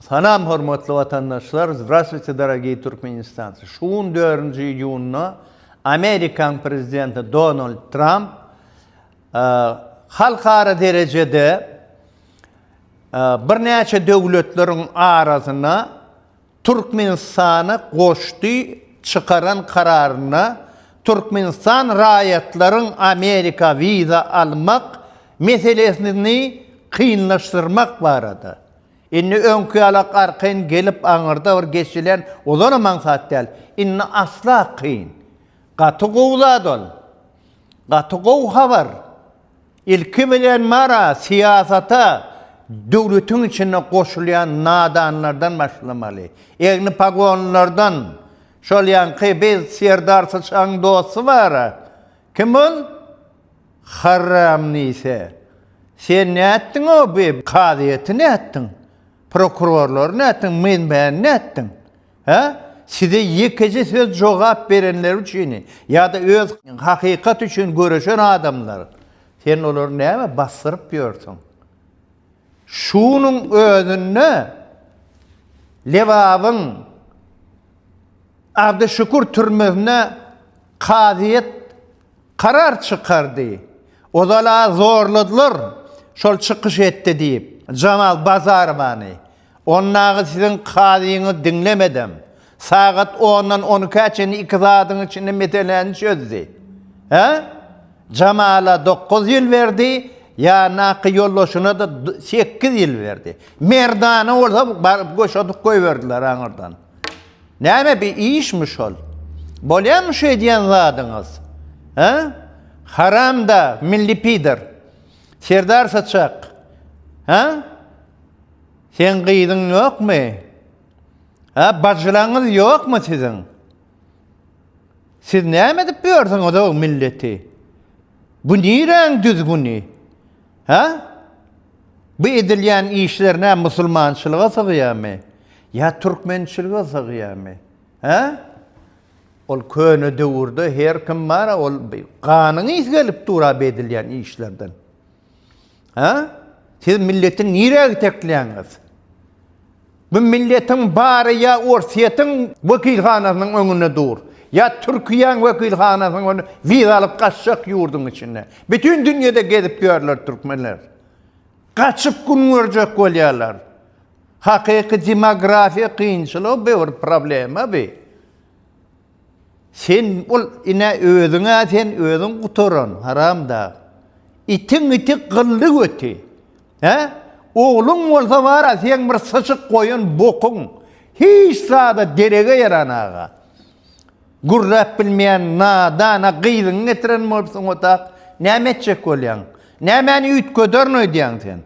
Salam hormatly watandaşlar Zdravstvuyte dorogiý Türkmenistancy şu gün dörünji iýunda Amerikaň prezidenti Donald Tramp halkara derejede birnäçe döwletleriň arasyna Türkmenistany goşdy çykaran kararynda Türkmenistan raýatlaryň Amerika wiza almak meselesini kynlaşdyrmak barada Indi öňki ýaly arkaýyn gelip aňyrda bir geçilen olanam aňsat däl. Indi asla kyn. Gaty gowy zat ol. Gaty gowy habar. Ilki bilen mara, syýasata döwletiň içinde goşulýan nadanlardan başlamaly. Egni pagonlardan. Şol ýaňky biz Serdar Syçagyň dosty bar-a. Kim ol? Harramnise, sen nätdiň-ow bi, kazyýeti nätdiň, prokurorlary nätdiň, menbäni nätdiň? Hä? Size ýekeje söz jogap berenler üçini ýa-da öz hakykat üçin göreşen adamlar, sen olary nämä basdyryp ýörsüň? Şunuň özünde Lebabyň Abdyşükür türmesine kazyýet Karar çykardy. Ozal-a zorladylar, şol çykyş etdi diýip, Jamal Bazarowany. Ondaky siziň kazyňyz diňlemedem, sagat ondan on ikä çenli iki zadyň içinde meseläni çözdi. Hä? Jamala dokuz ýyl berdi, ýandaky ýoldaşyna-da sekiz ýyl berdi. Merdana bolsa baryp goşadyp goýberdiler aňyrdan. Näme bi işmi şol? Bolýamy şu edýän zadyňyz? Hä? Haramda, milli pider. Serdar saçak. Hä? Seň gyzyň ýokmy? Hä, bajylaňyz ýokmy siziň? Siz näme edip ýörsüňiz o milleti? Bu niräň düzgüni? Hä? Bu edilýän işler nä musulmançylyga sygýarmy? Ýa türkmençilige sygýarmy? Hä? Ol köne döwürde her kim bar-a, ol ganyňyz gelip dur-a bu edilýän işlerden. Hä? Siz milleti nirä itekleýäňiz? Bu milletiň bary ýa Orsýetiň wekilhanasynyň öňünde dur, ýa Türkiýäň wekilhanasynyň öňünde wiza alyp gaçjak ýurduň içinde. Bütin dünýede gezip ýörler türkmenler. Gaçyp gün görjek bolýarlar. Hakyky demografiýa kynçylygy bir problema bi. Sen ol ine özüňä sen özüň gutaran haramdag. Itiň iti gylly göti. Hä? Ogluň bolsa bara seň bir syçyk goýan bokuň. Hiç zada derege ýaran aga. Gürläp bilmeýän nadana gyzyňy getiren bolupsyň ota. Näme etjek bolýaň? Nämäni üýtgederin öýdýäň sen?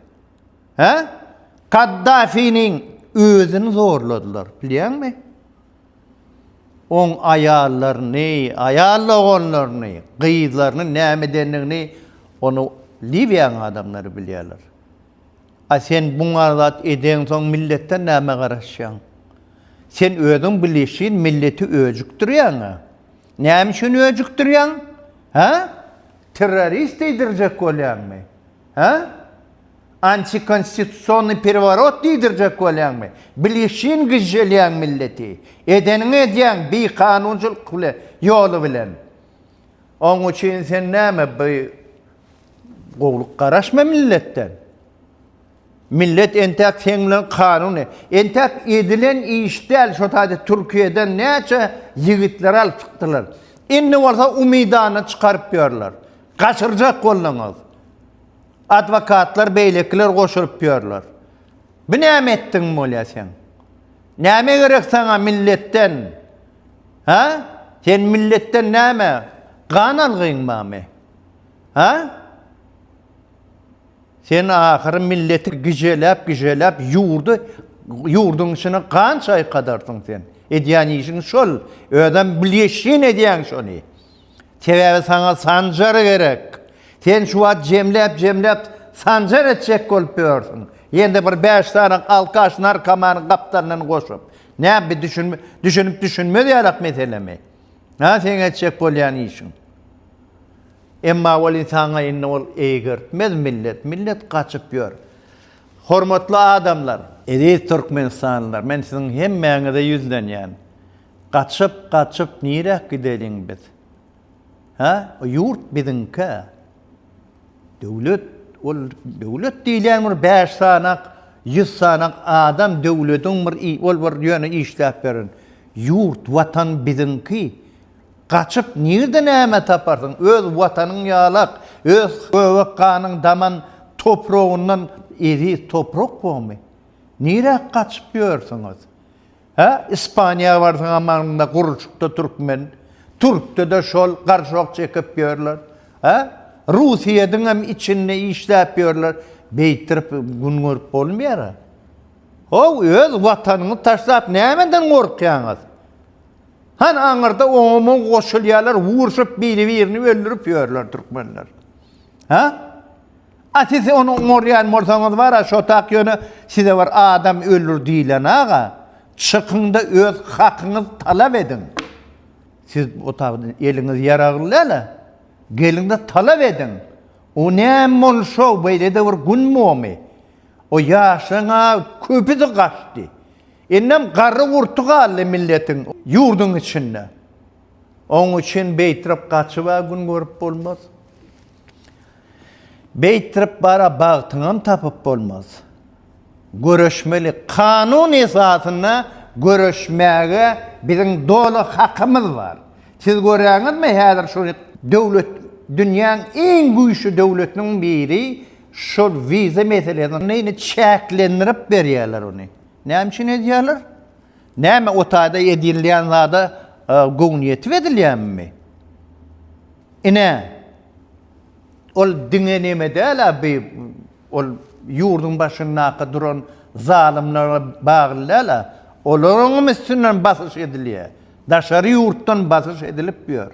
Hä? Kaddafiniň özüni zorladylar, bilýäňmi? oň aýallaryny, aýal doganlaryny, gyzlaryny näme edendigini ony Liwiýanyň adamlary bilýärler. A sen buňar zat edeňsoň milletden näme garaşýaň? Sen özüň bilişin milleti öjükdirýäň-ä. Näme üçin öjükdirýäň? Hä? Terrorist diýdirjek bolýaňmy? Hä? Antikonstitusionnyý pereworot diýdirjek bolýaňmy? Bilişin gyžželýäň milleti. Edeniňi edýäň bikanunçylyk bile ýoly bilen. Oň üçin sen näme bi gowluk garaşma milletden. Millet entäk seň bilen kanun e. Entäk edilen iş däl şo taýda Türkiýeden näçe ýigitleri alyp çykdylar. Indi bolsa umydany çykaryp ýörler. Gaçyrjak bolduňyz. Adwokatlar beýlekiler goşulyp ýörler. Bu näme etdigiň bolýar seň? Näme gerek saňa milletden? Hä? Sen milletden näme? Gan algyň barmy? Hä? Sen ahyry milleti gijeläp, gijeläp ýurdy ýurduň içine gan çaýkadarsyň sen. Edýän işiň şol. Özem bilýeşin edýäň şony. Sebäbi saňa Sanjar gerek. Sen şu wagt jemläp-jemläp Sanjar etjek bolup ýörsüň. Ýene-de bir bäş sany alkaş narkomany gapdalyndan goşup. Nä bi düşünip-düşünmez ýalak meselemi? Hä seň etjek bolýan işiň? Emma welin saňa indi ol eýgertmez millet, millet gaçyp ýör. Hormatly adamlar! Eziz türkmenistanlylar! Men siziň hemmäňize ýüzlenýän. Gaçyp, gaçyp niräk gideliň biz? Hä? O ýurt biziňkä? Döwlet, ol döwlet diýilýän bir bäş sanak, ýüz sanak adam döwlediň bir i, ol bir ýöne işläp beren. Ýurt, Watan biziňki. Gaçyp nirde näme taparsyň? Öz Watanyň ýalak, öz göbek ganyň daman topragyndan eziz toprak bormy? Niräk gaçyp ýörsüňiz? Hä, Ispaniýa barsaň hamanyňda gurlşukda türkmen, türkde-de şol garşok çekip ýörler. Hä, Russiýediňem içinde işläp ýörler. Beýtirip gün görüp bolmaýar-a. How, öz watanyňyzy taşlap nämeden gorkýaňyz? Hany aňyrda oňa-muňa goşulýarlar, urşup biri-birini öldürip ýörler türkmenler. Hä? A siz ony oňarýan bolsaňyz bara şotak ýöne size bir adam öldür diýilanaga çykyňda öz hakyňyz talap ediň. Siz bu otagda eliňiz ýaragly däla geliňde talap ediň. O näme boluş şow beýlede bir gün bomy. O ýaşlaňa köpüsi gaçdy. Indem garry gurty galdy milletiň ýurduň içinde. Oň üçin beýtrap gaçyba gün görüp bolmaz. Beýtdirip bara bagtyňam tapyp bolmaz. Göreşmeli. Kanun esasynda göreşmäge biziň doly hakymyz bar. Siz göräňizmi häzir şu döwlet dünýäň iň güýçli döwletiniň biri şol wiza meselesini çäklendirip berýärler ony. Näme üçin edýärler? Näme o taýda edilýän zada göwni ýetip edilýänmi? Ine. Ol diňe neme däl-ä bi ol ýurduň başyndaky duran zalymlara bagly däl-ä. Olaryňam üstünden basyş edilýär. Daşary ýurtdan basyş edilip ýör.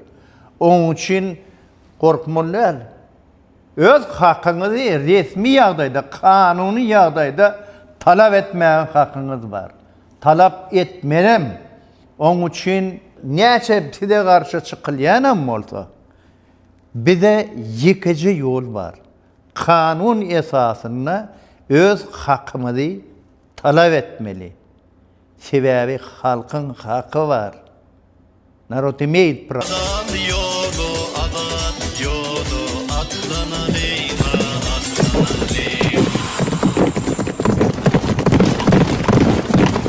Onuň üçin gorkmaly däl. Öz hakyňyzy resmi ýagdaýda, kanuny ýagdaýda talap etmäge hakyňyz bar. Talap etmelem. Onuň üçin näçe size garşy çykylýanam bolsa, Bize ýekeje ýol bar, kanun esasynda öz hakymyzy talap etmeli. Sebäbi halkyň haky bar. Narod imeýt pravo. Azat ýoly, azat ýoly, atlanalýyna, atlanalýyna.